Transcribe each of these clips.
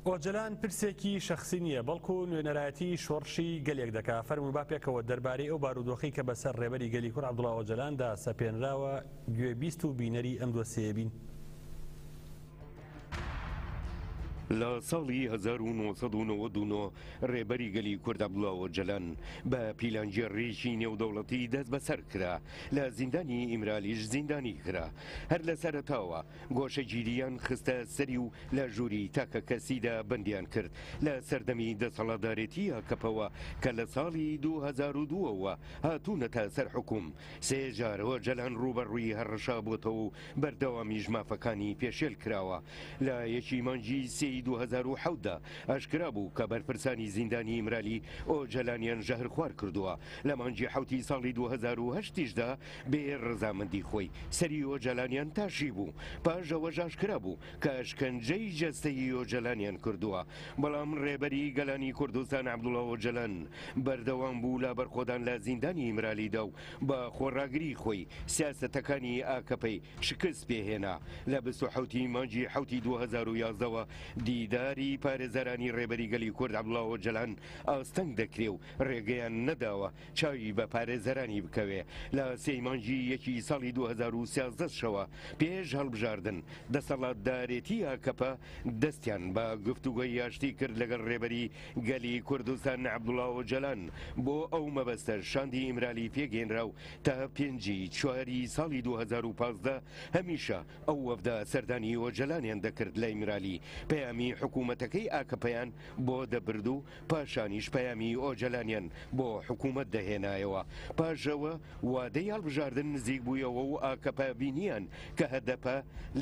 ئۆجەلان پرسێکی شەخسی نییە، بەڵکو نوێنەرایەتی شۆڕشی گەلێک دەکا، فەرموو با پێکەوە دەربارەی ئەو بارودۆخەی کە بەسەر ڕێبەری گەلی کورد عەبدوڵا ئۆجەلاندا سەپێنراوە گوێبیست و بینەری ئەم دۆسیەیە بین. لە ساڵی هەزار و نۆ سەد و نەوەد و نۆ ڕێبەری گەلی کورد عەبدوڵا ئۆجەلان بە پیلانگێڕیی نێودەوڵەتی دەستبەسەر کرا، لە زیندانی ئیمرالیش زیندانی کرا، هەر لە سەرەتاوە گۆشەگیرییان خستە سەری و لە ژووری تاکەکەسیدا بەندیان کرد. لە سەردەمی دەسەڵاتدارێتی ئاکەپەوە کە لە ساڵی دوو هەزار و دوو ەوە هاتوونەتە سەر حوکوم، سێ جار ئۆجەلان ڕووبەڕووی هەڕەشابووەتەوە و بەردەوامیش مافەکانی پێشێل کراوە. لە یەکی مانگی سێی دوو هەزار و حەوت دا ئاشکرا بوو کە بەرپرسانی زیندانی ئیمرالی ئۆجەلانیان ژەهرخوار کردووە. لە مانگی حەوتی ساڵی دوو هەزار و هەشت یشدا بێ ڕەزامەندی خۆی سەری ئۆجەلانیان تاشی بوو، پاش ئەوەش ئاشکرا بوو کە ئەشکەنجەی جەستەیی ئۆجەلانیان کردووە، بەڵام ڕێبەری گەلانی کوردستان عەبدوڵا ئۆجەلان بەردەوام بوو لە بەرخۆدان لە زیندانی ئیمرالیدا و بە خۆڕاگری خۆی سیاسەتەکانی ئاکەپەی شکست پێ هێنا، لە بیست و حەوت ی مانگی حەوتی دوو هەزار و یازدە وە دیداری پارێزەرانی ڕێبەری گەلی کورد عەبدوڵا ئۆجەلان ئاستەنگ دەکرێ و ڕێگەیان نەداوە چاوی بە پارێزەرانی بکەوێ لە سێی مانگی یەکی ساڵی دوو هەزار و سیازدە شەوە پێش هەڵبژاردن، دەسەڵاتدارێتی ئاکەپە دەستیان بە گفتوگۆی ئاشتی کرد لەگەڵ رێبەری گەلی کوردستان عەبدوڵا ئۆجالان، بۆ ئەو مەبەستە شاندی ئیمرالی پێکهێنرا و تا پێنجی چواری ساڵی دوو هەزار و پازدە هەمیشە ئەو وەفدە سەردانی ئۆجەلانیان دەکرد لە ئیمرالی، پەیامی حکوومەتەکەی ئاکەپەیان بۆ دەبرد و پاشانیش پەیامی ئۆجەلانیان بۆ حکوومەت دەهێنایەوە. پاش ئەوە وادەی هەڵبژاردن نزیک بوویەوە و ئاکەپە بینییان کە هەدەپە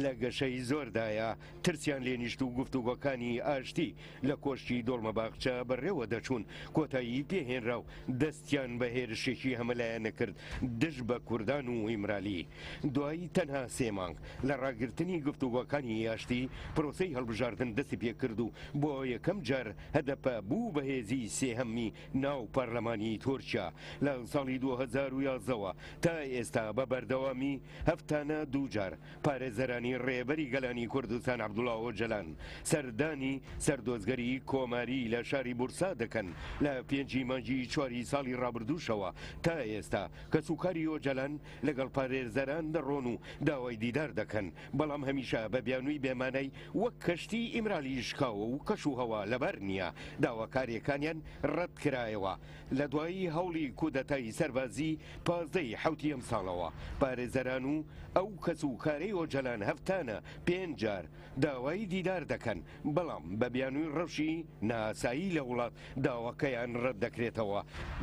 لە گەشەی زۆردایە، ترسیان لێ نیشت و گفتوگۆکانی ئاشتی لە کۆشکی دۆڵمەباخچە بەڕێوە دەچوون، کۆتایی پێ هێنرا و دەستیان بە هێرشێکی هەمەلایەنە کرد دژ بە کوردان و ئیمرالی. دوای تەنها سێ مانگ لە ڕاگرتنی گفتوگۆکانی ئاشتی، پرۆسەی هەڵبژاردن دەستی پێ کرد و بۆ یەکەم جار، هەدەپە بوو بە هێزی سێهەمی ناو پارلەمانی تورکیا لە ساڵی دوو هەزار و یازدە وە تا ئێستا بە بەردەوامی هەفتانە دوو جار پارێزەرانی ڕێبەری گەلانی کوردستان عەبدوڵا ئۆجەلان سەردانی سەردۆزگەری کۆماری لە شاری بورسا دەکەن لە پێنج ی مانگی چواری ساڵی ڕابردووشەوە تا ئێستا کەسوکاری ئۆجەلان لەگەڵ پارێزەران دەڕۆن و داوای دیدار دەکەن بەڵام هەمیشە بە بیانووی بێ مانای وەک کەشتیی ئیمرالی شکاوە و کەش و هەوا لەبار نییە، داواکارییەکانیان ڕەت کرایەوە. لە دوایی هەوڵی کودەتای سەربازی پازدە ی حەوتی ئەمساڵەوە، پارێزەران و ئەو کەس و کارەی ئۆجەلان هەفتانە پێنج جار داوای دیدار دەکەن، بەڵام بە بیانووی ڕەوشی نائاسایی لە وڵات داواکەیان ڕەت دەکرێتەوە.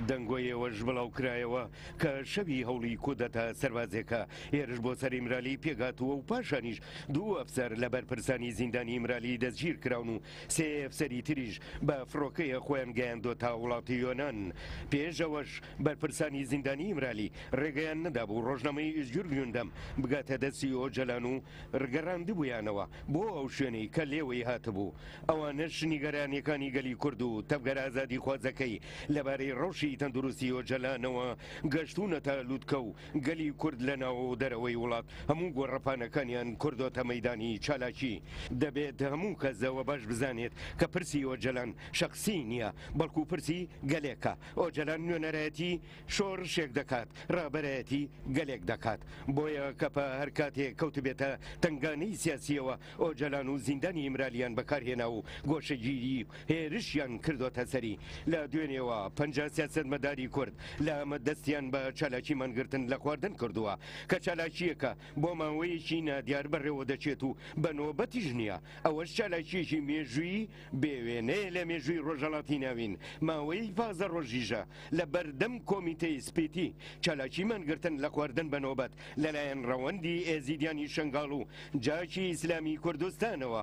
دەنگۆی ئەوەش بڵاوکرایەوە کە شەوی هەوڵی کودەتا سەربازێکە هێرش بۆ سەر ئیمرالی پێکهاتووە و پاشانیش دوو ئەفسەر لە بەرپرسانی زیندانی ئیمرالی دەستگیرکراون و سێ ئەفسەری تریش بە فڕۆکەیە خۆیان گەیاندۆتە وڵاتی یۆنان. پێش ئەوەش بەرپرسانی زیندانی ئیمرالی ڕێگەیان نەدابوو ڕۆژنامەی ئیزجور گوندەم بگاتە دەستی ئۆجەلان و رگەڕاندبوویانەوە بۆ ئەو شوێنەی کە لێوەی هاتبوو، ئەوانەش نیگەرانیەکانی گەلی کورد و تەڤگەرە ئازادیخوازەکەی لەبارەی رەوشی تەندروستی ئۆجەلانەوە گەشتوونەتە لوتکە و گەلی کورد لە ناو و دەرەوەی وڵات هەموو گۆڕەپانەکانیان کردۆتە مەیدانی چالاکی. دەبێت هەموو کەس ئەوە باش بزانێت کە پرسی ئۆجەلان شەخسی نیە، بەڵکو پرسی گەلێکە، ئۆجەلان نوێنەرایەتی، شۆڕشێک دەکات، ڕابەرایەتی گەلێک دەکات. بۆیە کەپە هەر کاتێ کەوتبێتە تەنگانەی سیاسییەوە، ئۆجەلان و زیندانی ئیمرالییان بەکارهێنا و گۆشەگیری و هێرشیان کردۆتە سەری. لە دوێنێوە پەنجا سیاسەتمەداری کورد لە ئامەد دەستیان بە چالاکی مانگرتن لە خواردن کردووە، کە چالاکییەکە بۆ ماوەیەکی نادیار بەڕێوەدەچێت و بە نۆبەتیش نییە، ئەوەش چالاکییەکی مێژوویی بێ وێنەیە لە مێژووی ڕۆژەڵاتی ناوین، ماوەیەی پازدە ڕۆژیشە لە بەردەم کۆمیتەی سپیتی چالاکی مانگرتن لە خواردن بە نۆبەت لەلایەن ڕەوەندی ئێزیدیانی شەنگاڵ و جاشی ئیسلامی کوردستانەوە